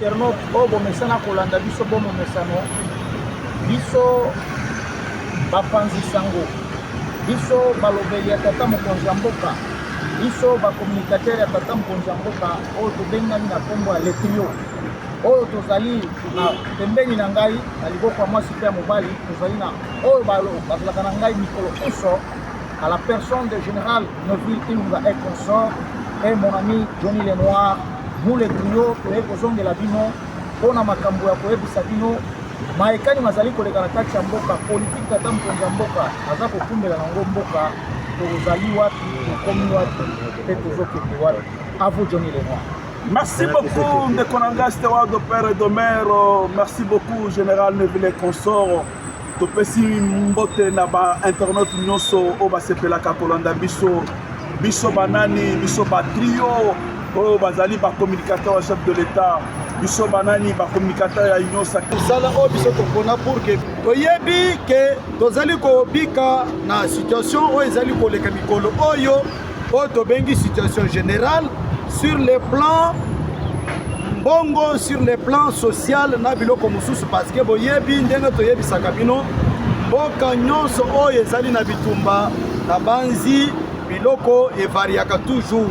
Internaute oyo bomesana kolanda biso bo momesano biso bapanzi sango biso balobeli ya tata mokonzi ya mboka biso bacommunicateur ya tata mokonzi ya mboka oyo tobengani na nkombo ya letrio oyo tozali na pembeni na ngai na liboko ya mwasi mpe ya mobali tozali na oyo bazalaka na ngai mikolo inso à la personne de Général Neville Ilunga et consort et mon ami Johnny Lenoir mule trio toye kozongela bino mpo na makambo ya koyebisa bino mayekani mazali koleka na kati ya mboka politiki tata mokonzi ya mboka aza kokumbela nango mboka tozali wapi tokomi wapi mpe tozokende wapi avo Johnny Lenoir Merci beaucoup, Ndekonanga, Steward de Père et de Mère. Merci beaucoup, Général Neville Consort. Topesi mbote na ba internautes nyonso oyo basepelaka kolanda biso biso banani biso batrio oyo bazali bacommunicateur ya chef de l'etat biso banani bacommunicateur ya union sacre mosala oyo biso topona pour ke toyebi ke tozali kobika na situation oyo ezali koleka mikolo oyo oyo tobengi situation générale sur le plan mbongo sur le plan social na biloko mosusu parce que boyebi ndenge toyebisaka bino mboka nyonso oyo ezali na bitumba na banzi biloko evariaka toujours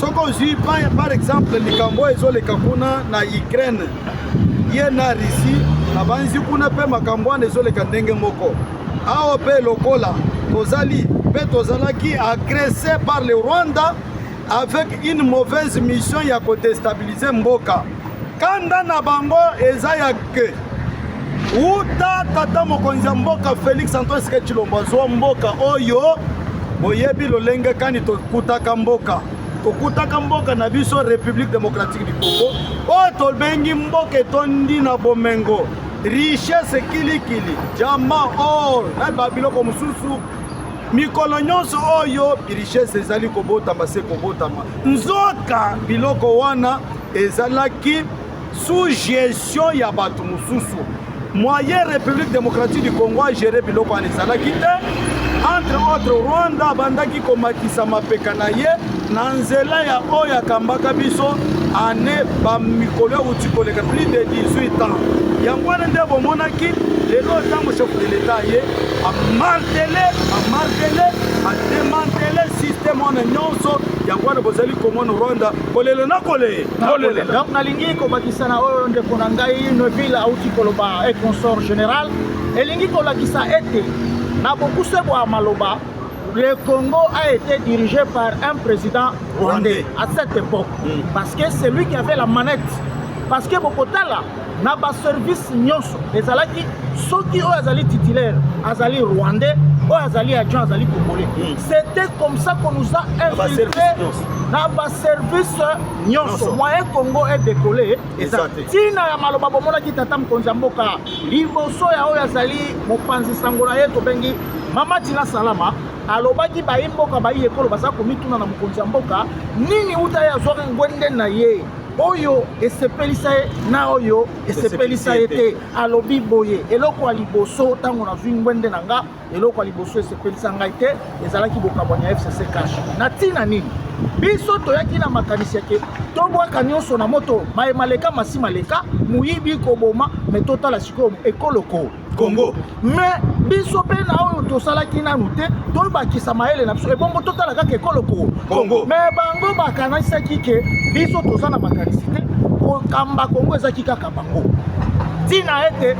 soki ozwi par exemple likambo oyo ezoleka kuna na ukraine ye na russie na banzi kuna mpe makambo wana ezoleka ndenge moko Awa pe lokola tozali pe tozalaki agresse par le Rwanda avec une mauvaise mission ya ko destabiliser mboka. Kanda na bango eza ya que uta tata mokonzi ya mboka Felix Antoine Tshisekedi Tshilombo azwa mboka oyo boyebi lolenge kani tokutaka mboka tokutaka mboka na biso République démocratique du Congo oyo tobengi mboka etondi na bomengo richesse kilikili diamant or na babiloko mosusu mikolo nyonso oyo richesse ezali kobotama se kobotama nzoka biloko wana ezalaki sous gestion ya bato mosusu moyen république démocratique du congo agere biloko wana ezalaki te entre autres rwanda abandaki komatisa mapeka na ye na nzela ya oyo akambaka biso ane bamikolo euti koleka plus de 18 ans yango wana nde bomonaki lelo ntango chef de leta ye amartele amartele ademantele systeme wana nyonso yango wana bozali komona rwanda kolela na kolee donc nalingi kobakisa na oyo ndeko na ngai neville auti koloba e consort général elingi kolakisa ete na bokuse bwa maloba Le Congo a été dirigé par un président rwandais à cette époque mm. parce que c'est lui qui avait la manette parce que bokotala na baservice nyonso ezalaki soki oyo azali titulaire azali rwandais oyo azali adjoint azali congolais mm. c'était comme ça qu'on nous a infiltré na baservice nyonso moyen congo est décollé eza ntina ya maloba bomonaki tata mokonzi ya mboka liboso ya oyo azali mopanzi sango na ye tobengi Mama Tina Salama alobaki bayi mboka bayi ekolo baza komituna na mokonzi ya mboka nini uta ye azwaki ngwende na ye oyo esepelisa ye na oyo esepelisa ye te alobi boye eloko ya liboso ntango nazwi ngwende na nga eloko ya liboso esepelisa ngai te ezalaki bokabwani ya fcc cash na ntina nini biso toyaki na makanisi yake tobwaka nyonso na moto maye maleka masi maleka moyibi koboma me totala sikoyo ekoloko congo mais biso mpe na oyo tosalaki nanu te tobakisa mayele na biso ebongo totala kaka ekolo ko congo mais bango bakanisaki ke biso toza na makanisi te kokamba congo ezalaki kaka bango ntina ete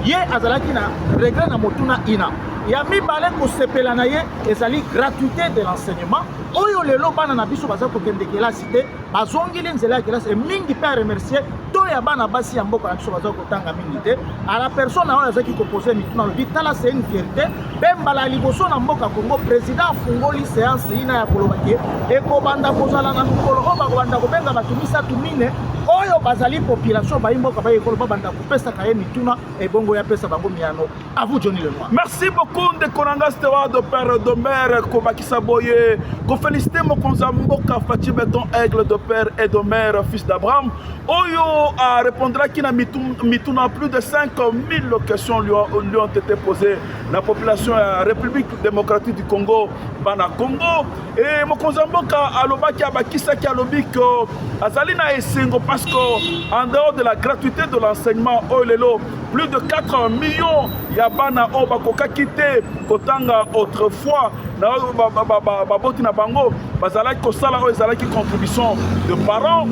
ye azalaki na regret na motuna ina ya mibale kosepela na ye ezali gratuité de l'enseignement oyo lelo bana na biso baza kokende kelasi te bazongeli nzela ya kelasi mingi mpe aremercie to ya bana basi ya mboka na biso bazali kotanga mingi te a la personne oyo azalaki kopose mituna alobi tala se une fierté mpe mbala ya liboso na mboka congo président afungoli seance ina ya koloba ke ekobanda kozala na mokolo oyo bakobanda kobenga bato misato mine oyo bazali population bayi mboka bayi ekolo babanda kopesaka ye mituna ebongo yapesa bango miano À vous Johnny Lenoir. Merci beaucoup ndeko na nga Steward de Père de Mère kobakisa boye kofelicite mokonzi ya mboka Fatshi Beton Aigle de Père et de Mère fils d'Abraham oyo arepondraki na mituna plus de 5000 questions lui ont, lui ont été posées na population ya République démocratique du Congo bana Congo e mokonzi ya mboka alobaki abakisaki alobi ke azali na esengo parce que en dehors de la gratuité de l'enseignement oyo lelo plus de 4 millions ya bana oyo bakokaki te kotanga autrefois na oyo baboti na bango bazalaki kosala oyo ezalaki contribution de parents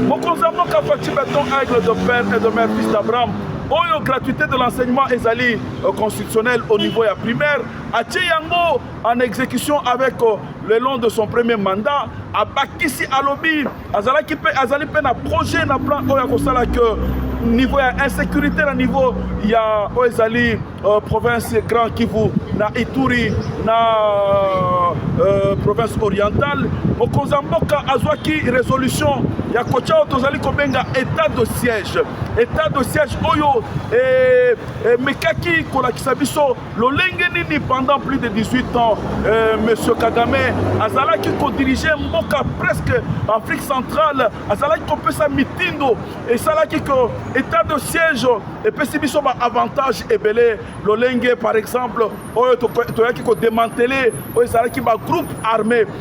mokonzi ya mboka faci beton aigle de père et de mère fils d'abraham oyo gratuité de l'enseignement ezali euh, constitutionnel au niveau ya primaire atie yango en exécution avec euh, le long de son premier mandat abakisi alobi azalaki mpe azali mpe na projet na plan oyo akosala ke niveau ya insécurité na niveau ya oyo ezali euh, province grand kivu na ituri na euh, province orientale mokonzi ya mboka azwaki résolution ya kotya oyo tozali kobenga état de siège état de siège oyo emekaki eh, eh, kolakisa biso lolenge nini pendant plus de 18 ans euh, monsieur kagame azalaki kodirige mboka presque afrique centrale azalaki kopesa mitindo esalaki ke état de siège epesi biso baavantage ebele lolenge par exemple oyo toyaki kodemantele oyo ezalaki bagroupe armé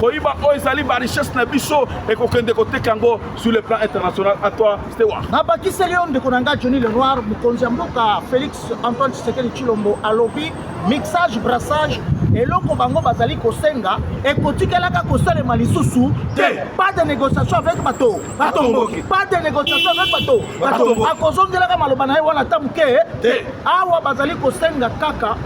koyiba oyo ezali ba richesse na biso ekokende koteka yango sur le plan international à toi stewa nabakiseli yo ndeko na ngai johnny le noir mokonzi ya mboka félix antoine tshisekedi tshilombo alobi mixage brassage eloko bango bazali kosenga ekotikelaka kosalema lisusu te pas de négociation avec bato batomboki pas de négociation avec bato batomboki akozongelaka maloba na ye wana ata moke awa bazali kosenga kaka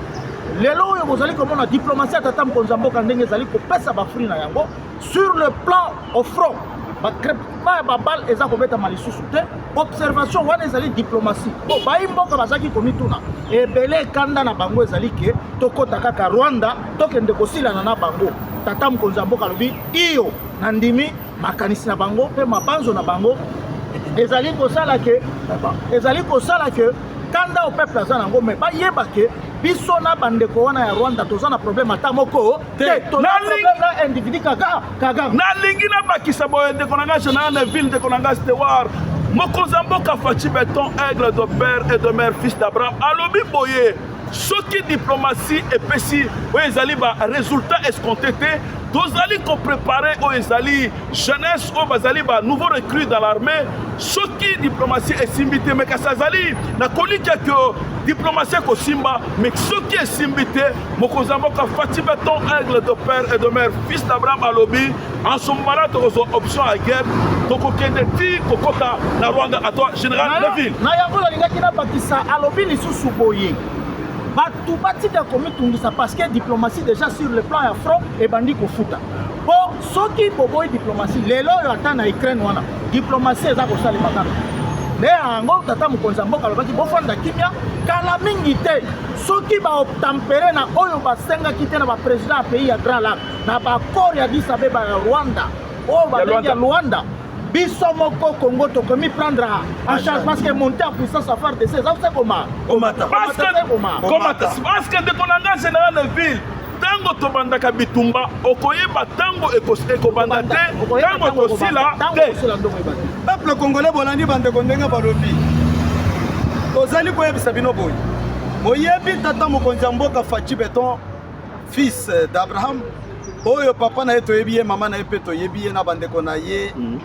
lelo oyo bozali komona diplomatie ya tata mokonzi ya mboka ndenge ezali kopesa bafri na yango sur le plan au front bacrepement ya babale eza kobetama lisusu te observation wana ezali diplomatie po bayi mboka bazalaki komituna ebele kanda na bango ezali ke tokɔta kaka rwanda tokende kosilana na bango tata mokonzi ya mboka alobi iyo nandimi makanisi na bango mpe mabanzo na bango ezali kosala ke ezali kosala ke kanda o peuple aza nango me bayeba ke biso na bandeko wana ya rwanda toza na problème ata moko te na individu kaka kagame nalingi nabakisa boye ndeko na ngai général na ville ndeko na ngai stewar mokonzi ya mboka faci beton aigle de père et de mère fils d'abraham alobi boye soki diplomatie epesi oyo ezali ba résultat escompté te tozali koprépare oyo ezali jeunesse oyo bazali ba nouveau recrue dans l'armée soki diplomatie esimbi te mais kasi azali na kolikya ke diplomatie ekosimba mais soki esimbi te mokonzi ya mboka fatsi beton aigle de père et de mère fils d'abraham alobi En ce moment là, tu as option à guerre, tu as ti kokota na Rwanda à toi, général Neville. Na yango la linga kina bakisa alobi lisusu boye. Bato batika komitungisa parce que diplomatie déjà sur le plan ya front ebandi kofuta mpo soki boboyi diplomatie lelo oyo ata na ukraine wana diplomatie eza kosalema kaka nde yango tata mokonzi ya mboka alobaki bofanda kimia kala mingi te soki baobtampere na oyo basengaki te na baprésident ya pays ya grand lac na bakor ya Addis Abeba ya Rwanda oyo babengi ya Luanda biso moko Congo tokomi prendre en charge parce que monter en puissance à faire de ces affaires koma komata parce que komata parce que ndeko na ngai général de ville ntango tobandaka bitumba okoyeba ntango ekobanda te ntango ekosila te peuple congolais bolandi bandeko ndenge balobi tozali koyebisa bino boye boyebi tata mokonzi ya mboka faci beton fils d'abraham oyo papa na ye toyebi ye mama na ye mpe toyebi ye na bandeko na ye mm.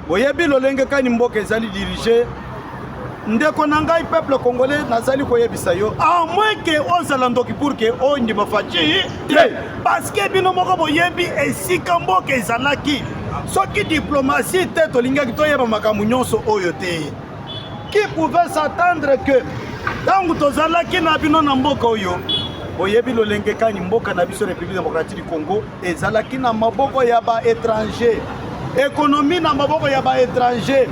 boyebi lolenge kani mboka ezali dirige ndeko na ngai peuple congolais nazali koyebisa yo a moins ke ozala ndoki pour ke ondima faci te parce que bino moko boyebi esika mboka ezalaki soki diplomatie te tolingaki toyeba makambo nyonso oyo te Qui pouvait s'attendre que ntango tozalaki na bino na mboka oyo oyebi lolenge kani mboka na biso République démocratique du Congo ezalaki na maboko ya ba étranger ekonomi na maboko ya ba étranger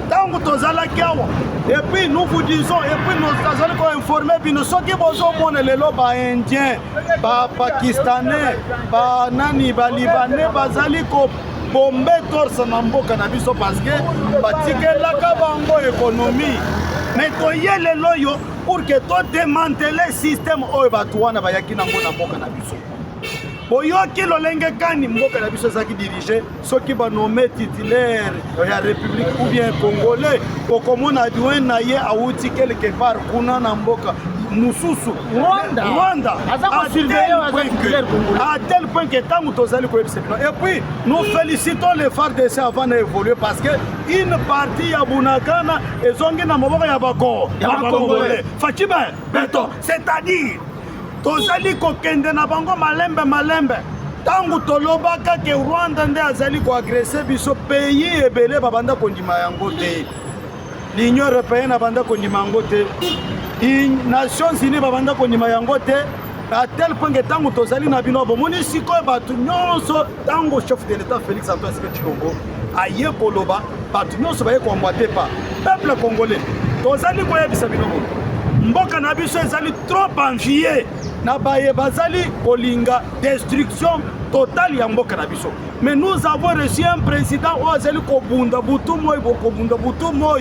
ntango tozalaki awa epuis nous vous disons epuis tozali koinforme bino soki bozomona lelo baindien bapakistanais banani balibanais bazali ko bombe torse na mboka na biso parce que batikelaka bango ekonomi me toye lelo oyo pour que todemantele systeme oyo bato wana bayaki nango na mboka na biso boyoki lolenge kani mboka na biso ezalaki dirige soki banome titulaire ya république ou bien congolais okomona adjoint na ye awuti quelque part kuna na mboka mosusu Rwanda, Rwanda à tel, point à tel point que tant que Tozali Et puis, nous félicitons les FARDC avant d'évoluer parce que une partie à Bunagana et Zongi na Moboko ya Bako, ya Bakongolais. Fatime, béton, c'est-à-dire, Tozali kokende na bango malembe malembe. ntango tolobaka ke rwanda nde azali koagrese biso pays ebele babanda kondima yango te L'Union européenne abanda kondima yango te, Nations Unies babanda kondima yango te à tel point que ntango tozali na bino bomoni sikoyo bato nyonso ntango chef de l'état félix antoine sike tshilombo aye koloba bato nyonso baye koambwate pa peuple congolais tozali koyebisa bino boye mboka na biso ezali trop envie na baye bazali kolinga destruction totale ya mboka na biso Mais nous avons reçu un président oyo azali kobunda butu moi bokobunda butu moi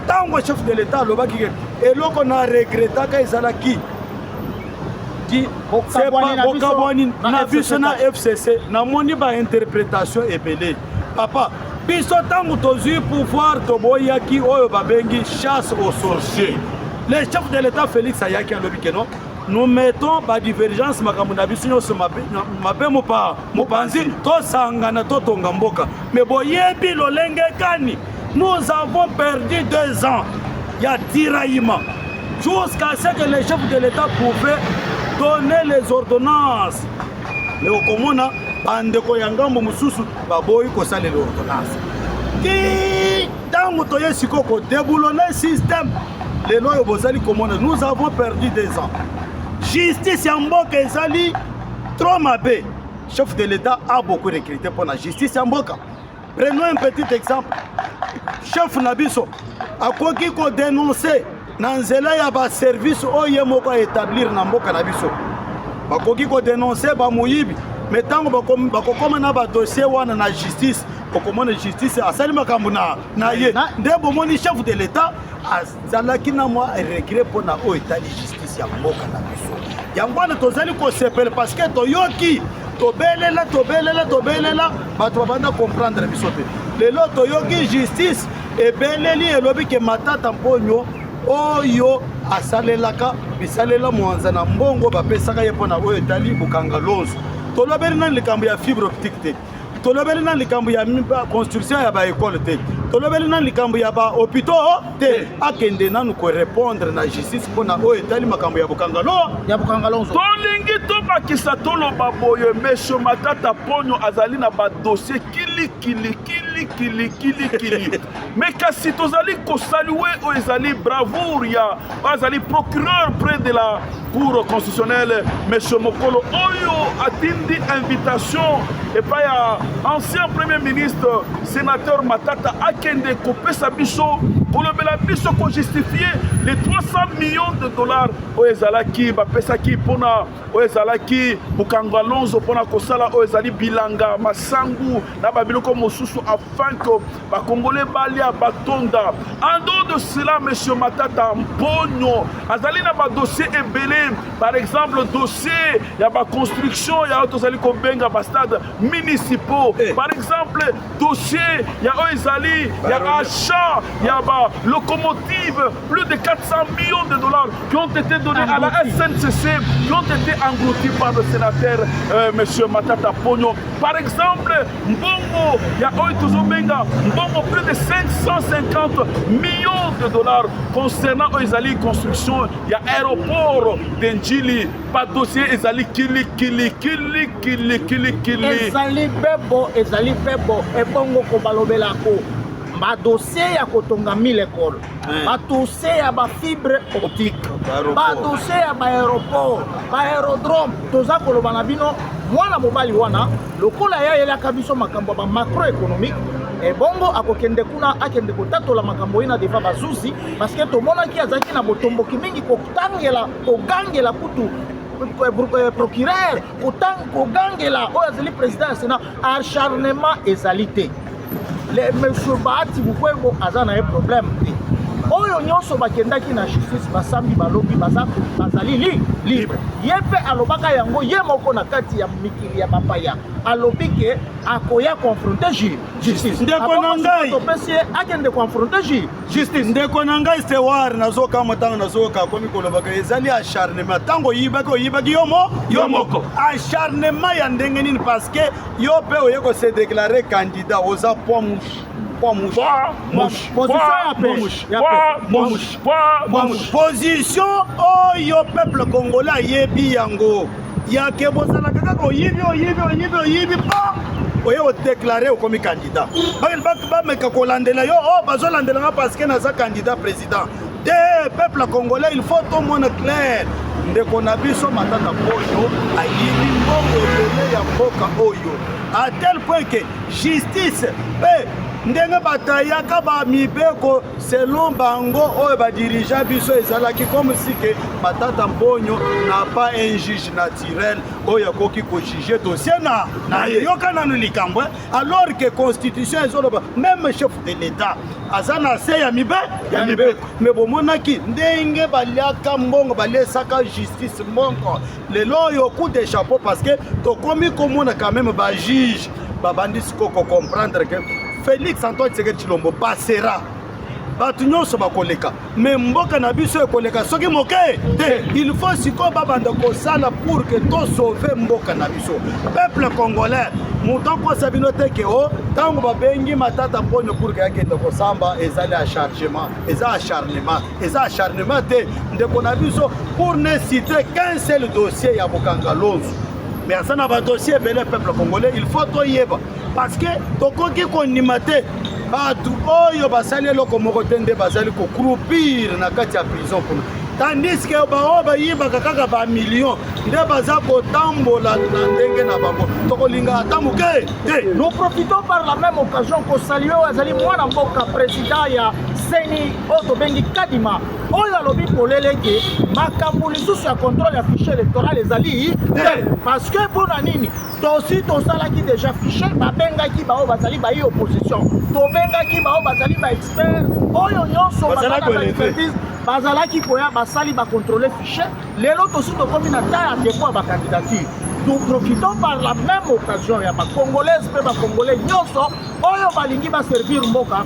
ntango chef de l'état alobaki ke eloko na regretaka ezalaki bokabwani na biso na fcc namoni bainterprétation ebele papa biso ntango tozwi pouvoir toboyaki oyo babengi chasse au sorcier le chef de l'état félix ayaki alobi keno nous mettons badivergence makambo na biso nyonso mabe mopaa mopanzi tosangana totonga mboka me boyebi lolenge kani nous avons perdu deux ans ya tiraillement jusqu'à ce que le chef de l'état pouvait donner les ordonnances me okomona bandeko ya ngambo mosusu baboyi kosalela ordonnance ti ntango toye sikoyo kodeboulone système lelo oyo bozali komona nous avons perdu des ans justice ya mboka ezali trop mabe chef de l'état a beaucoup recruté mpo na justice ya mboka prenons un petit exemple chef na biso akoki kodenonse na nzela ya baservice oyo ye moko aétablir na mboka na biso bakoki kodenonse bamoyibi me ntango bakokoma na badossier wana na justice okomona justice asali makambo na ye nde bomoni chef de l'état zalaki na mwa regret mpo na oyo etali justice ya mboka na biso yango wana tozali kosepela parce que toyoki tobelela tobelela tobelela bato babanda comprendre biso te lelo toyoki justice ebeleli elobi ke matata mponyo oyo asalelaka bisalela mwanza na mbongo bapesaka ye mpo na oyo etali bokanga lonzo tolobeli nani likambo ya fibre optique te tolobeli na likambo ya construction ya baekole te tolobeli na likambo ya bahopitaux te akende nanu korepondre na justice mpo na oyo etali makambo ya bokangalo ya bokangalo tolingi tobakisa toloba boye mesio matata ponyo azali na badossier kilikilikilikilikilikili me kasi tozali kosalue oyo ezali bravoure ya oyo azali procureur près de la cour constitutionnelle monsieur mokolo oyo atindi invitation epai ya ancien premier ministre sénateur matata akende kopesa biso kolobela biso kojustifie les 300 millions de dollars oyo ezalaki bapesaki mpona oyo ezalaki mokango alonso mpona kosala oyo ezali bilanga masangu na babiloko mosusu afin que bakongole balia batonda andor de cela monsieur matata mponyo azali na badossier ebele par exemple dossier ya baconstruction ya oyo tozali kobenga bastade municipaux eh. par exemple dossier ya oyo ezali ya achat ya balocomotive plus de 400 millions de dollars qui ont été donnés à la sncc qui ont été engloutis par le sénateur euh, monsieur matata mponyo par exemple mbongo ya oyo tozobenga mbongo plus de 550 millions de dollars concernant oyo ezali construction ya aéroport de njili badossier ezali kilikilikilikilikilikili ezali bebo ezali bebo ebongo kobalobelako badossier ya kotonga mille ekole eh. badossier ya bafibre optique badossier ya baaéroport baaérodrome toza koloba na bino mwana mobali wana Lokola ye ayelaka biso makambo ya ba macroeconomique ebongo eh, akokende kuna akende kotatola makambo ye na deva bazuzi parceke tomonaki azalaki na botomboki mingi kotangela kogangela kutu eh, eh, procureur kogangela oyo azali président ya sénat acharnement ezali te le monsieur bahati mukwebo aza na ye problème te oyo nyonso bakendaki na justice basambi balobi baza bazali li libre ye mpe alobaka yango ye moko na kati ya mikili ya bapaya alobi ke akoya confronte ju justice ndeko na ngai topesi ye akende confronte ju justice ndeko na ngai sewar nazokama ntango nazoyoka akomi kolobaka ezali acharnement ntango oyibaki oyibaki yo mo yo moko acharnement ya ndenge nini parce que Yo pe oye ko se déclarer candidat oza poids mouche. Poids mouche. Poids mouche. Position ya mouche. Poids mouche. Poids mouche. Position oyo peuple congolais ayebi yango. Ya ke bozala kaka ko yibi oyibi oyibi oyibi pa oye ko déclarer okomi candidat. Ba ba meka ko landela yo oh bazo landela nga parce que naza candidat président. te peuple congolais il faut tomona clair ndeko na biso matata mpoyo ayibi mbongo ebele ya mboka oyo a tel point ke justice mpe ndenge batayaka bamibeko selon bango oyo badirija biso ezalaki comme si ke matata mponyo na pas un juge naturel oyo akoki kojuge dossier na na ye yoka nanu likambo eh. alors que constitution ezoloba meme chef de l'etat aza na se ya mibe ya mibeko me bomonaki ndenge baliaka mbongo balesaka justice mbongo lelo oyo coup de chapeau parce que tokomi komona quand même bajuge babandi siko kocomprendre que félix antoine tshisekedi tshilombo basera bato nyonso bakoleka me mboka na biso ekoleka soki moke te il faut sikoyo babanda kosala pour ke tosauve mboka na biso peuple congolais moto akosa bino te ke o ntango babengi matata mponyo pour ke akende kosamba ezali achargement eza acharnement eza acharnement te ndeko na biso pour ne citer qu'un seul dossier ya bokanga lonzu mais aza na badossier ebele peuple congolais il faut toyeba parce que tokoki kondima te bato oyo basali eloko moko te nde bazali kokrupire na kati ya prison kuna tandis ke baoyo bayibaka kaka bamillion nde baza kotambola na ndenge na bango tokolinga ata moke te nous profitons par la même occasion kosalue oyo azali mwana mboka président ya seni oyo tobengi kadima oyo alobi polele ete makambo lisusu ya contrôle ya fichier électoral ezali te parce que mpo na nini tosi tosalaki deja fiche babengaki baoyo bazali bayi opposition tobengaki baoyo bazali baexpert oyo nyonso baexpertise bazalaki koya basali bakontrole fiche lelo tosi tokomi na ta ya depot ya bakandidature nous profitons par la même occasion ya bacongolaise mpe bacongolais nyonso oyo balingi baservir mboka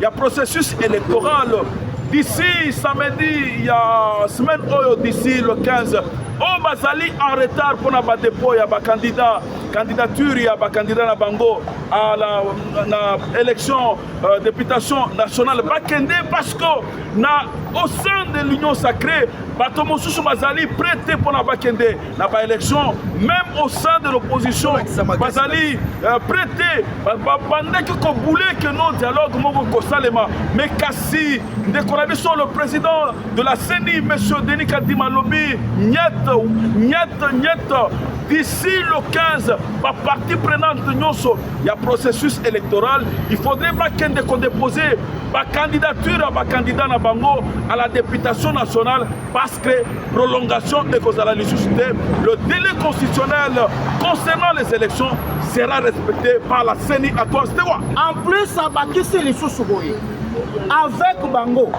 ya processus électoral d'ici samedi ya semaine oyo d'ici le 15 oyo oh, bazali en retard mpona badepot ya bacandidat candidature ya bacandidat na bango à la, na élection euh, députation nationale bakende parce que na au sein de l'union sacrée bato mosusu bazali prête mpona bakende na ba élection même au sein de l'opposition bazali euh, prete babandaki kobule que non dialogue moko kosalema mais kasi ndeko na biso le président de la ceni monsieur denis kadima alobi nyete nyete nyete d'ici le 15 bapartie prenante nyonso ya processus électoral il faudrait bakende kodepose bacandidature ya bacandidat na bango à la députation nationale parce que prolongation ekozala lisusu te le délai constitutionnel concernant les élections sera respecté par la ceni à cause de quoi en plus abakisi lisusu boye avec bango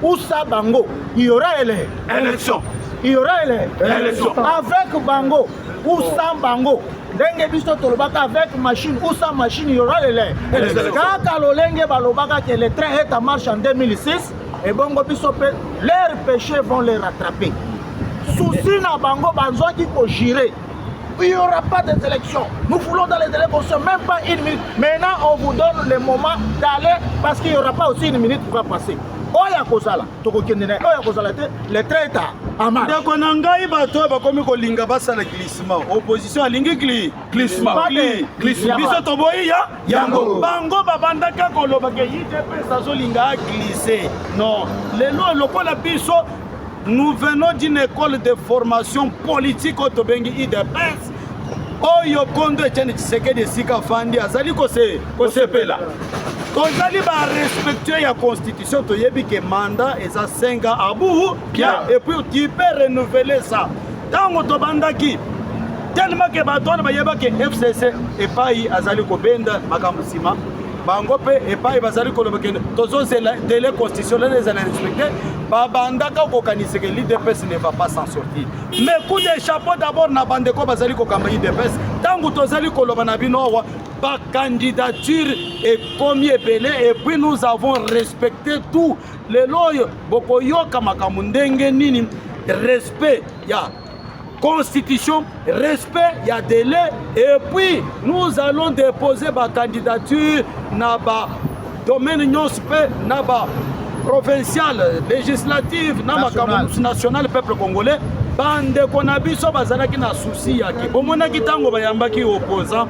usa bango il y aura ele élection il y aura ele élection avec bango usa bango ndenge biso tolobaka avec machine ou sans machine il y aura le lait kaka lolenge balobaka que le train est en marche en 2006 ebongo biso mpe leur péché vont les rattraper souci na bango bazwaki kojire il n'y aura pas des élections. Nous voulons dans les délais qu'on se même pas une minute. Maintenant, on vous donne le moment d'aller parce qu'il n'y aura pas aussi une minute qui va passer. oyo akozala tokokende na ye oyo akozala te le traita ama ndeko na ngai bato oyo bakomi kolinga basala glisma opposition alingi glisma biso toboyi ya yango bango babandaka koloba ke idps azolinga aglise non lelo lokola biso nous venons d'une école de formation politique oyo tobengi idps oyo kondo etiane tshisekedi esika afandi azali kosepela tozali barespectueux ya constitution toyebi ke mandat eza 5 ans abu bien et puis tu peux renouveler ça ntango tobandaki tellement ke bato wana bayebaki fcc epai azali kobenda makambo nsima bango mpe epai bazali koloba kende tozozela dele constitutionnel ezala respecte babandaka kokanisa ke l'idps ne va pas s'en sortir mais coup de chapeau d'abord na bandeko bazali kokamba idps ntango tozali koloba na bino awa bacandidature ekomi ebele epuis nous avons respecté tout lelo oyo bokoyoka makambo ndenge nini respect ya constitution respect ya délai et puis nous allons déposer bacandidature na ba domaine nyonso mpe na ba provinciale législative na makambo mosusu national peuple congolais bandeko na biso bazalaki na susi yake bomonaki ntango bayambaki opposant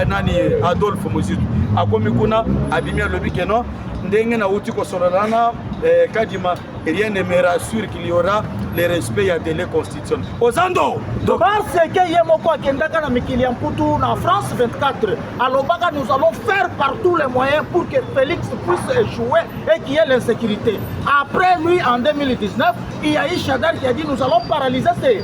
nani adolphe mozitu akomi kuna abimi alobi keno ndenge nauti kosolola na eh, kadima rien ne me rassure qu'il y aura le respect ya dele constitution ozando parce que ye moko akendaka na mikili ya mputu na france 24 alobaka nous allons faire par tous les moyens pour que félix puisse échouer et qu'il y ait l'insécurité après lui en 2019 il y a eu chadar qui a dit nous allons paralyser ces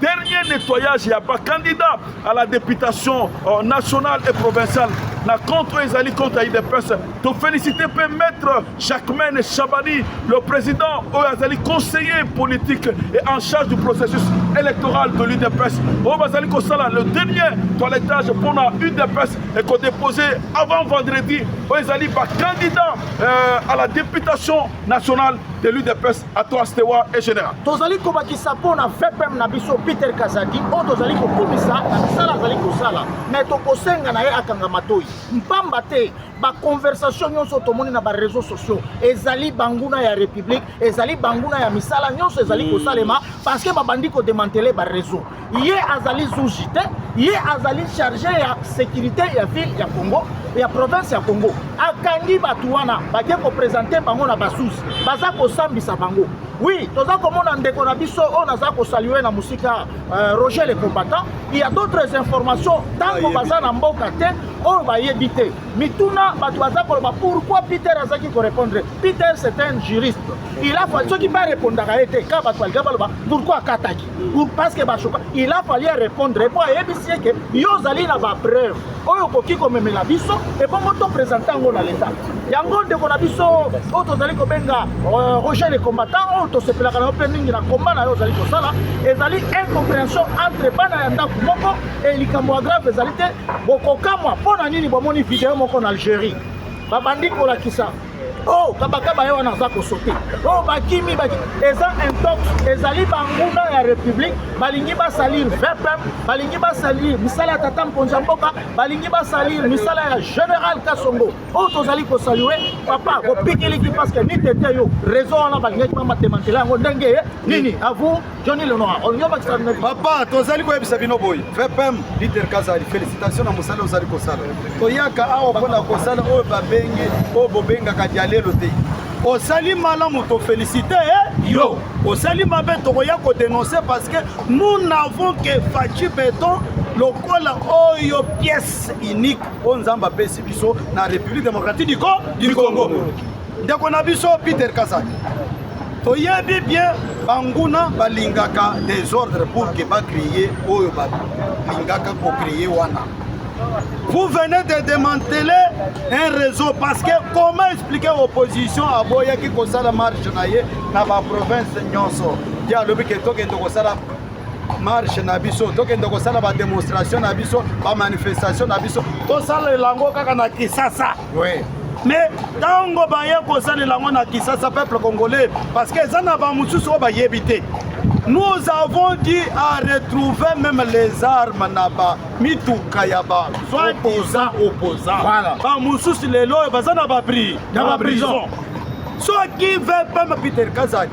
dernier nettoyage ya ba candidats à la députation euh, nationale et provinciale na compte oyo ezali compte ya idps tofélicité mpe maître jacquemaine chabani le président oyo azali conseiller politique et en charge du processus électoral de l'udps oyo bazali kosala le dernier toilettage mpo na udps ekodépose avant vendredi oyo ezali bacandidat euh, à la députation nationale de l'udps A toi Stewa et General. Tozali kobakisa mpo na VPM na biso Peter Kazadi oyo tozali kokumisa na misala azali kosala me tokosenga na ye akanga matoi mpamba te baconversation nyonso tomoni na bareseau sociaux ezali banguna ya république ezali banguna ya misala nyonso ezali kosalema parce que babandi kodemantele bareseau ye azali zuji te ye azali charge ya sécurité ya ville ya congo ya province ya congo akangi bato wana bake kopresente bango na basusi baza kosambisa bango wi toza komona ndeko na biso oyo naza kosalue na mosika uh, roger le combattant il y a d'autres informations ntango baza na mboka te oyo bayebi te mituna bato baza koloba pourquoi peter azalaki korépondre peter c'est un juriste il a soki barepondaka ye te ka bato balinga baloba pourquoi akataki pour parce que bashoka il a fallu répondre mpo ayebisi ye ke yo ozali na bapreuve oyo okoki komemela biso ebongo to présente yango na leta yango ndeko na biso oyo tozali kobenga euh, roger le combattant oyo tosepelaka na yo mpe mingi na komba na yo ozali kosala ezali incompréhension entre bana ya ndako moko e likambo ya grave ezali te bokokamwa mpo na nini bomoni video moko na algérie babandi kolakisa oh kabakaba ye wana aza kosote oh bakimi baki eza intox ezali banguna ya république balingi basalir vpm balingi basalir misala ya tata mkonzi ya mboka balingi basalir misala ya général kasongo oyo oh, tozali kosalue papa bopikiliki parce que ni tete yo réseau wana balingaki bamatemantela yango ndenge nini avour Johnny Lenoir, on yoma extraordinaire. Papa, tozali koyebisa bino boye. VPM leader Kazali, félicitations na mosala ozali kosala. Toyaka awa mpo na kosala oyo babengi oyo bobengaka dialelo te. Osali malamu to félicite eh? yo. Osali mabe tokoya ko dénoncer parce que nous n'avons que Fatshi Beton lokola oyo pièce unique oyo Nzambe apesi biso na République démocratique du Congo. Ndeko na biso Peter Kazali. toyebi bien banguna balingaka desordre pour que bacreye oyo balingaka kocreye wana vous venez de démanteler un réseau parce que comment expliquer opposition aboyaki kosala marche na ye na baprovince nyonso ye alobi ke tokende kosala marche na biso tokende kosala bademonstration na biso bamanifestation na biso tosala elango kaka na kisasa Oui. mais ntango baye kosalela yango na kisasa peuple congolais parce que eza na bamosusu oyo bayebi te nous avons dit à retrouver même les armes na bamituka ya basoi-disant opposant voilà. bamosusu lelo oyo baza na baprison soki veut pema peter kazaki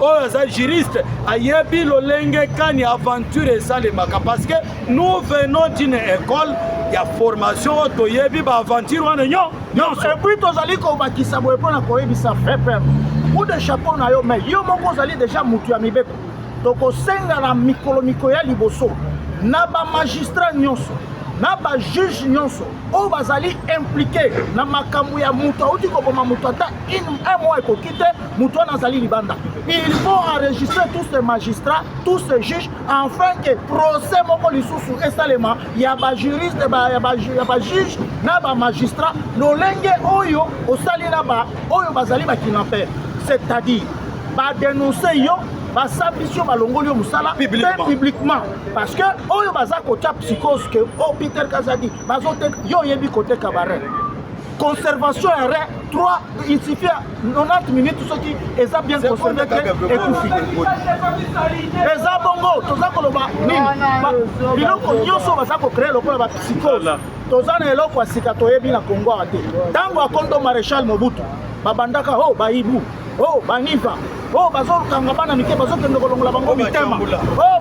oyo aza juriste ayebi lolenge kani aventure esalemaka parce que nous venons d'une école ya formation oyo toyebi baaventure wana nyonso epuis tozali kobakisa boye mpo na koyebisa fepem coup de chapeau na yo mai yo moko ozali deja motu ya mibeko tokosenga na mikolo mikolo ya liboso na bamagistrat nyonso na bajuge nyonso oyo bazali implike na makambo ya moto auti koboma moto ata un mois ekoki te moto wana azali libanda il faut enregistrer tous ces magistrats tous ces juges enfin que procès moko lisusu esalema ya bajuriste ya bajuge na bamagistrat lolenge oyo osali na ba oyo bazali bakinaper c'est-à-dire badenonse yo basambisi yo balongoli yo mosala mpe publiquement parce que oyo baza kotya psychose ke o oh, peter kazadi bazoteka yo oyebi koteka barene conservation ya rein 3 il suffit ya 90 minutes soki eza bien conserve te ekufi eza bongo toza koloba nini biloko nyonso baza kocree lokola bapsychose toza na eloko ya sika toyebi na kongo awa te ntango ya kondo maréchal mobutu babandaka o oh, baibu Oh, baniva oyo oh, bazokanga bana mike bazokende kolongola bango mitema oyo oh,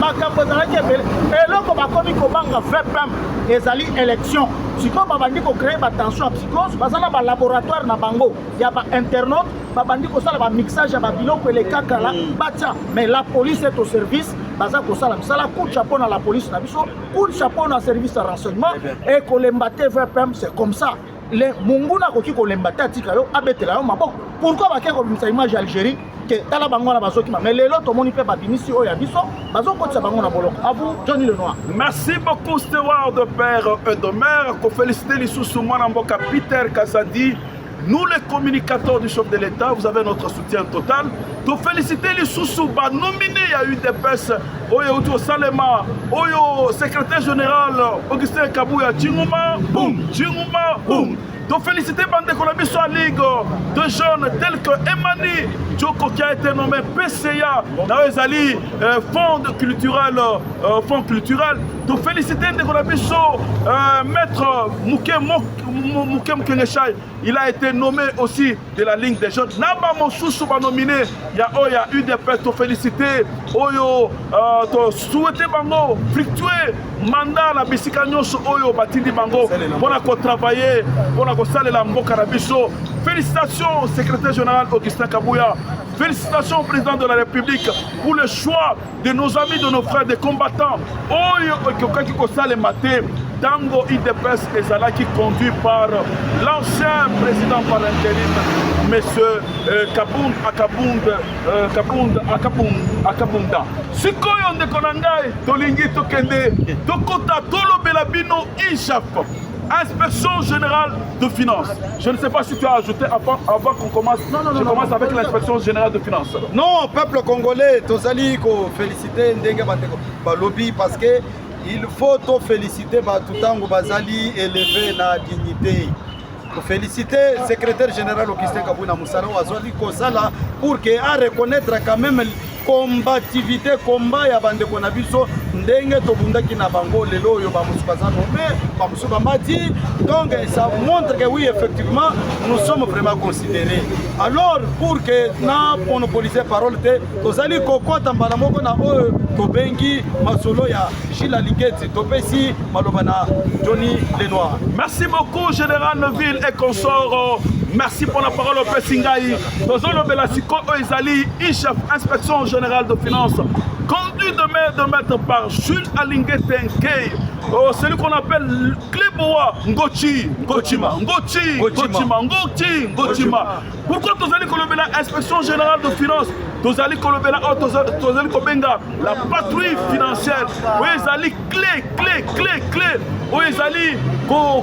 makambo ezalaki ebele eloko bakomi kobanga vpm ezali élection sikoyo babandi kocreye batension ya psychose baza na balaboratoire na bango ya bainternaute babandi kosala bamixage ya babiloko elekakala mm. batya mais la police est au service baza kosala misala coup chapeau na la police na biso coup chapeau na service ya renseignement ekolemba te vpm c'est comme ça le monguna akoki kolemba te atika yo abetela yo maboko pourkui bakei kobimisa image ya algérie te tala bango wana bazokima mais lelo tomoni mpe babimisi oyo ya biso bazokotisa bango na boloko abu johnny lenoir merci beaucoup steward père edomer kofelicite lisusu mwana mboka peter kazadi Nous, les communicateurs du chef de l'État, vous avez notre soutien total. Nous féliciter les sous-sous, nominés à UDPS oyo euti kosalema oyo secrétaire général augustin kabuya cinguma bum cinguma bum tofélicité bandeko na biso ya ligue de jeune tel que emani joko qui a été nommé pca na oyo ezali euh, fond culturel euh, fond culturel tofélicité ndeko na biso euh, maître moke moke mokengeshai il a été nommé aussi de la ligne des jeunes na bamosusu banomine ya oyo ya udps tofélicité oyo euh, tosouete bango fructue manda na bisika nyonso oyo batindi bango mpo na kotravaille mpo na kosalela mboka na biso félicitation secrétaire général augustin kabuya félicitation président de la république pour le choix de nos amis de nos frères des combattants oyo ekokaki kosalema te ntango udps ezalaki conduit par l'ancien président par intérim monsieur euh, kabund akabund euh, kabund akabund akabunda sikoyo ndeko na ngai tolingi tokende tokota tolobela bino ishaf inspection générale de finances. Je ne sais pas si tu as ajouté avant, avant qu'on commence. Non, non, je non, commence non, avec l'inspection générale de finances. Non, peuple congolais, tozali ko féliciter ndenge bandeko balobi parce que il faut to féliciter bato ntango bazali élevé na dignité kofélicite secrétaire général augustin kabuna mosala oyo azwaki kosala pour que a reconnaître quand même combativité combat ya bandeko na biso ndenge tobundaki na bango lelo oyo bamosusu baza nome bamosusu bamati donc ça montre que oui effectivement nous sommes vraiment considérés alors pour que na monopolise parole te tozali kokota mbala moko na oyo tobengi masolo ya gila ligeti topesi maloba na johnny lenoir merci beaucoup général neville et consort merci pour la parole opesi ngai tozolobela sikoyo oyo ezali ichef inspection générale de finance conduit de main de maître par jules alingete nkei oh, celui qu'on appelle cleboa ngochi ngochima ngochi ngochima ngochi ngochima pourquoi tozali kolobela inspection générale de finance tozali kolobela oyo oh, tozali kobenga la patrouille financière oyo ezali clé clé clé clé oyo ezali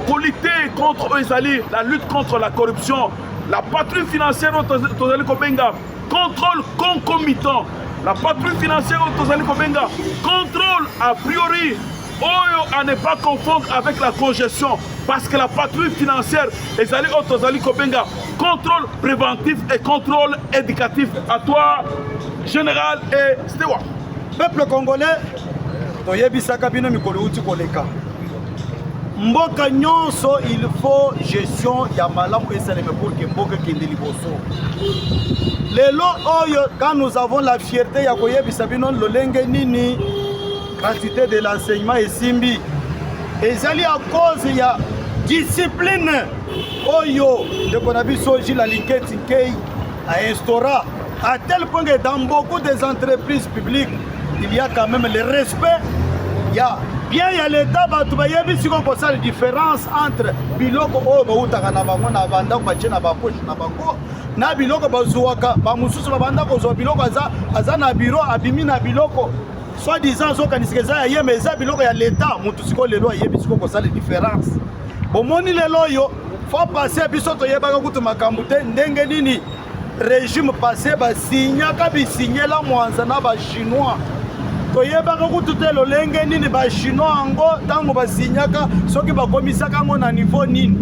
kolite contre oyo ezali la lutte contre la corruption La patrie financière oyo tozali kobenga contrôle concomitant la patrie financière oyo tozali kobenga contrôle a priori oyo à ne pas confondre avec la congestion parce que la patrie financière ezali oyo tozali kobenga contrôle préventif et contrôle éducatif à toi général et steward peuple congolais toyebisaka bino mikolo uti koleka mboka nyonso il faut gestion ya malamu esaleme pour que mboka ekende liboso lelo oyo quand nous avons la fierté ya koyebisa bino lolenge nini gratuité de l'enseignement esimbi ezali à cause ya discipline oyo ndeko na biso jila linketi nkei ainstaura À tel point que dans beaucoup des entreprises publiques, il y a quand même le respect. Il y a bien ya leta bato bayebi siko kosala différence entre biloko oyo bautaka na bango na bandako batie na bapoche na bango na biloko bazuwaka bamosusu babanda kozwa biloko aza, aza na biro abimi na biloko soit disant azokanisika eza ya ye ma eza biloko ya leta motu siko lelo ayebi siko kosala différence bomoni lelo oyo fo passe biso toyebaka kutu makambo te ndenge nini regime passé basignaka bisignela mwanza na bachinois toyebaka kutu te lolenge nini bachinois yango ntango basignaka soki bakomisaka yango na niveau nini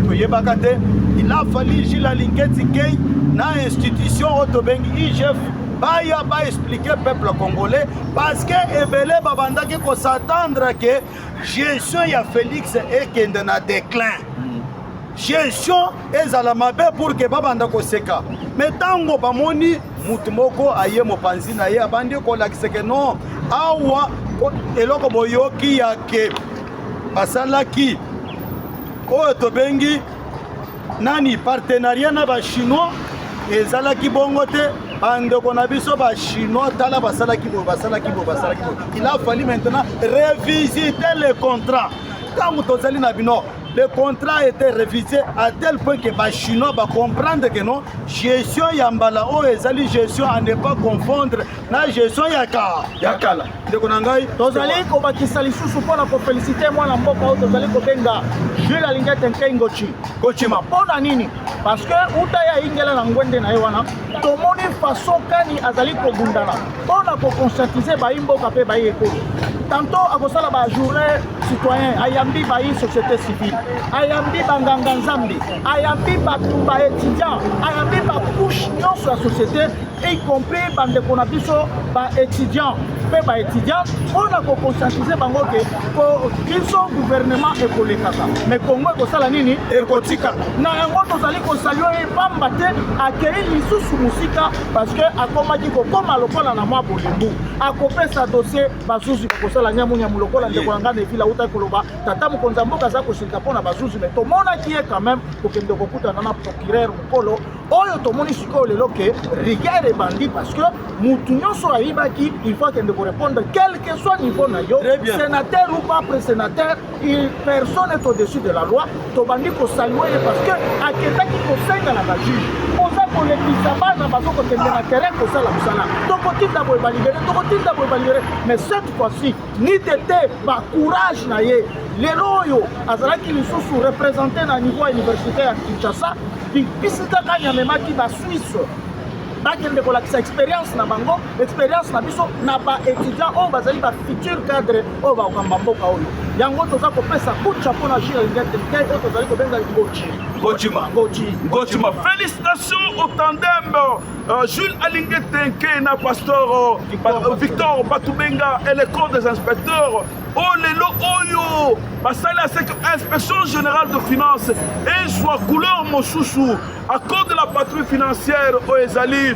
toyebaka te ilafali jila linketi kei na institution oyo tobengi igf baya baexplike peuple congolais parce que ebele babandaki kosatendre ke gestion ya félix ekende na déclin gestion ezala mabe pour que babanda koseka me ntango bamoni motu moko aye mopanzi na ye abandi kolakisa ke non awa eloko boyoki ya ke basalaki oyo tobengi nani partenariat na bachinois ezalaki bongo te bandeko na biso bachinois tala basalaki boye basalaki boye basalaki boye il a fallu maintenant revisiter le contrat ntango tozali na bino le contrat a été révisé à tel point que ba chinois ba comprendre que non gestion ya mbala oyo oh, ezali gestion à ne pas confondre na gestion ya ka ya kala ndeko na ngai tozali kobakisa lisusu mpo na kofelisite mwana mboka oyo tozali kobenga jules alingete nkei ngoci kocima mpo na nini parce que uta ya ingela na ngwende na ye wana tomoni façon kani azali kobundana mpo na koconscientiser bayi mboka mpe bayi ekolo tanto akosala ba journée citoyen ayambi bayi société civile ayambi banganga nzambe ayambi bato ba étudiant ayambi bacouche nyonso ya société y compris bandeko na biso ba étudiant mpe ba étudiant mpo na koconscientiser bango ke biso gouvernement ekolekaka mais kongo ekosala nini ekotika na yango tozali kosalio ye pamba te akei lisusu mosika parce que akomaki kokoma lokola na mwa bolembu akopesa dossier bazuzi bakosala nyamunyamu lokola ndeko na ngai na evila autaki koloba tata mokonzi ya mboka aza kosilika mpo na bazuzi me tomonaki ye quand même kokende kokutana na procureur mokolo oyo tomoni sikoyo lelo ke rigueur ebandi parce que motu nyonso ayibaki il faut akende korepondre quelque soit niveau na yo sénateur ou pas presénateur Il personne est au-dessus de la loi tobandi kosalue ye parce que akendaki kosenga na bajuge oza kolekisa bana bazokokende na terrain kosala mosala tokotinda boye balibere tokotinda boye balibere mais cette fois-ci ni tete bacourage na ye lelo oyo azalaki lisusu représente na niveau ya université ya kinshasa bisika kani amemaki basuisse bakende kolakisa expérience na bango expérience na biso na baétudiant oyo bazali bafutur cadre oyo bakamba mboka oyo yango toza kopesa kucha mpo na jure ngetrike oyo tozali kobenga ngochi ngochima ngochi ngochima félicitation au tandem euh, jules alinge tenke na pasteur euh, victor batubenga et le corps des inspecteurs oyo oh, lelo oyo basali ya seke inspection générale de finance ezwa couleur mosusu à cause de la patrie financière oyo ezali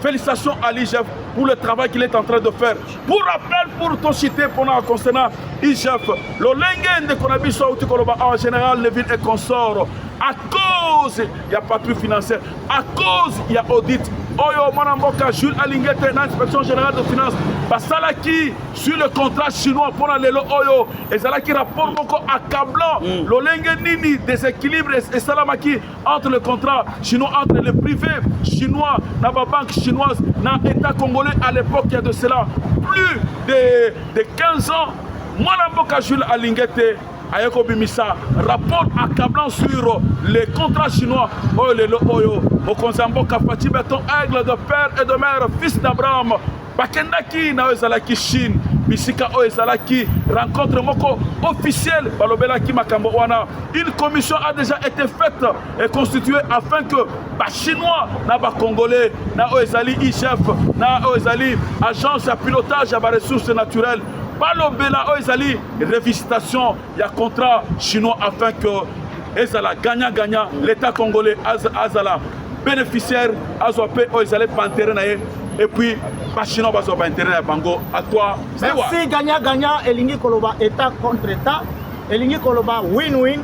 Félicitations à l'IGF pour le travail qu'il est en train de faire. Pour rappel, pour ton cité, pendant concernant IGF, le lengue de Konabiso Autikoloba en général, les villes et consorts, à cause, il n'y a pas plus financier, à cause, il y a audit. Oyo Manamboka, Jules Alingete, l'inspection générale de finances, basalaki sur le contrat chinois mpo na lelo oyo ezalaki rapport moko accablant mm. lolenge nini déséquilibre esalamaki entre le contrat chinois entre les privés chinois na ba banque chinoise na état congolais à l'époque ya de cela plus de, de 15 ans mwana mboka jules alinge te aye kobimisa rapport accablant sur les contrats chinois oyo lelo oyo mokonzi ya mboka faci beton aigle de père et de mère fils d'abraham bakendaki na oyo ezalaki chine bisika oyo ezalaki rencontre moko officielle balobelaki makambo wana une commission a déjà été faite et constituée afin que bachinois na bacongolais na oyo ezali igf na oyo ezali agence ya pilotage ya baressources naturelles balobela oyo ezali revisitation ya contrat chinois afin que ezala gagnant gagnant l'état congolais azala bénéficiaire azwa mpe oyo ezali bantere na ye epuis bachinois bazwa baintere ya bango à toi merci gagnant gagnant elingi koloba état contre état elingi koloba win win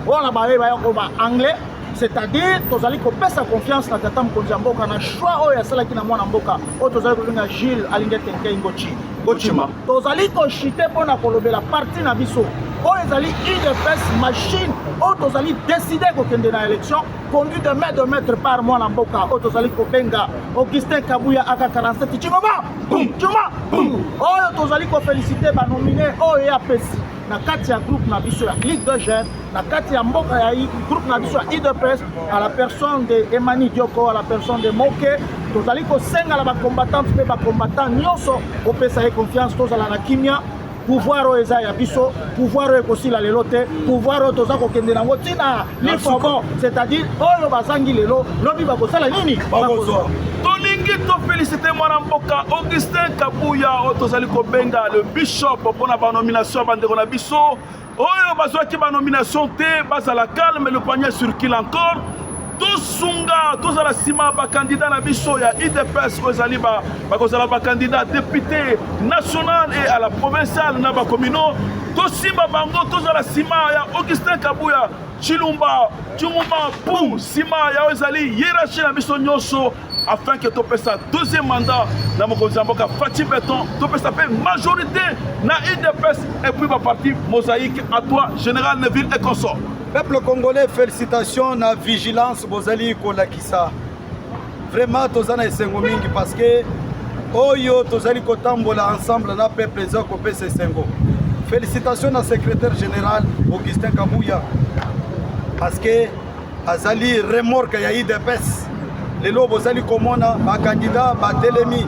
oyo na baye baya koloba anglais c'est-à-dire tozali kopesa confiance na tata mokonzi ya mboka na choix oyo asalaki na mwana mboka oyo tozali kobenga jules alingi ete nkei ngoci ngocima tozali koshite mpo na kolobela parti na biso oyo ezali udps machine oyo tozali deside kokende na élection conduit de main de maître par mwana mboka oyo tozali kobenga augustin kabuya aka 47 cingoma cingoma oyo tozali kofelicite banomine oyo ye apesi na kati ya groupe na biso ya ligue de jeune na kati ya mboka ya groupe na biso ya udps à la personne de emani dioko à la personne de moke tozali kosenga na bacombattante mpe bacombattant nyonso kopesa ye confiance tozala na kimia pouvoir oyo eza ya biso pouvoir oyo ekosila lelo te pouvoir oyo toza kokende nango ntina les fobon c'est-à-dire oyo bazangi lelo lobi bakosala nini bakozwa tolingi tofelisite mwana mboka augustin kabuya oyo tozali kobenga le bishop mpo na banomination ya bandeko na biso oyo bazwaki banomination te bazala calme le panier circule encore tosunga tozala nsima bakandida na biso ya idps oyo ezali ba bakozala bakandida depute national e à la provinciale na bakomino tosimba bango tozala nsima ya augustin kabuya chilumba chumuma pum nsima yayo ezali hierarchie na biso nyonso afin ke topesa deuxième mandat na mokonzi ya mboka faci beton topesa mpe majorité na udps et puis baparti mosaïque à toi général neville et consort peuple congolais félicitations na vigilance bozali kolakisa Vraiment toza na esengo mingi parce que oyo tozali kotambola ensemble na peuple eza kopesa esengo. Félicitations na secrétaire général Augustin Kabuya parce que azali remorque ya IDPS. Lelo bozali komona ba candidats batelemi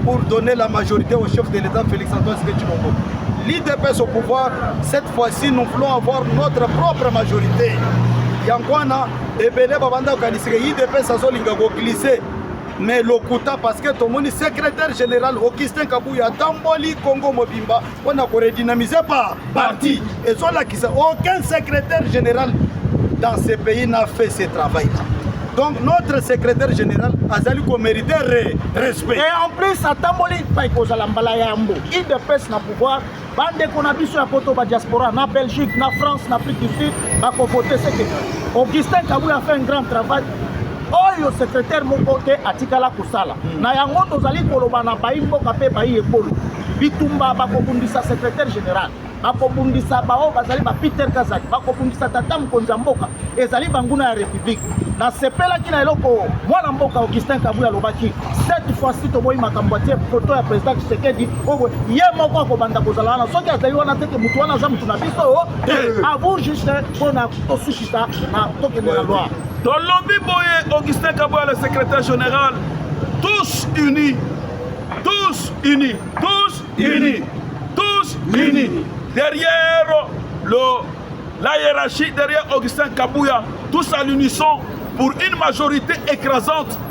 pour donner la majorité au chef de l'État Félix Antoine Tshisekedi Tshilombo. L'IDPS au pouvoir, cette fois-ci nous voulons avoir notre propre majorité. Yango wana ebele babanda kokanisa ke idps azolinga koglise mais lokuta parce que tomoni secrétaire général augustin kabuya atamboli congo mobimba mpo na koredynamiser par parti ezolakisa aucun secrétaire général dans ce pays n'a fait ce travail là donc notre secrétaire général azali komérite respect et en plus atamboli epai kozala mbala ya yambo idps na pouvoir bandeko na biso ya poto ba diaspora na belgique na france na afrique du sud bakovote seke augustin kabuya afa un grand travail oyo secrétaire moko te atikala kosala hmm. na yango tozali koloba na bayi mboka mpe bayi ekolo bitumba bakobundisa secrétaire général bakobundisa baoyo bazali ba peter kazaki bakobundisa tata mokonzi ya mboka ezali banguna ya république nasepelaki na eloko mwana mboka augustin kabuya alobaki cette fois ci toboyi makambo atie foto ya président tshisekedi oyo ye moko akobanda kozala wana soki azali wana te ke motu wana aza motu na biso oh, eh. a vous juste mpo na tosukisa na tokende na loi tolobi boye augustin kaboya le secrétaire général tous unis tous unis tous unis tous unis derrière le la hiérarchie derrière Augustin Kabouya, tous à l'unisson pour une majorité écrasante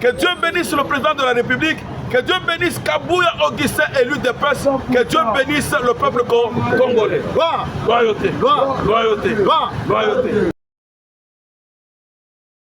Que Dieu bénisse le président de la République Que Dieu bénisse Kabouya Augustin, élu de Pesse. Que Dieu bénisse le peuple congolais. Loyauté, loyauté, loyauté.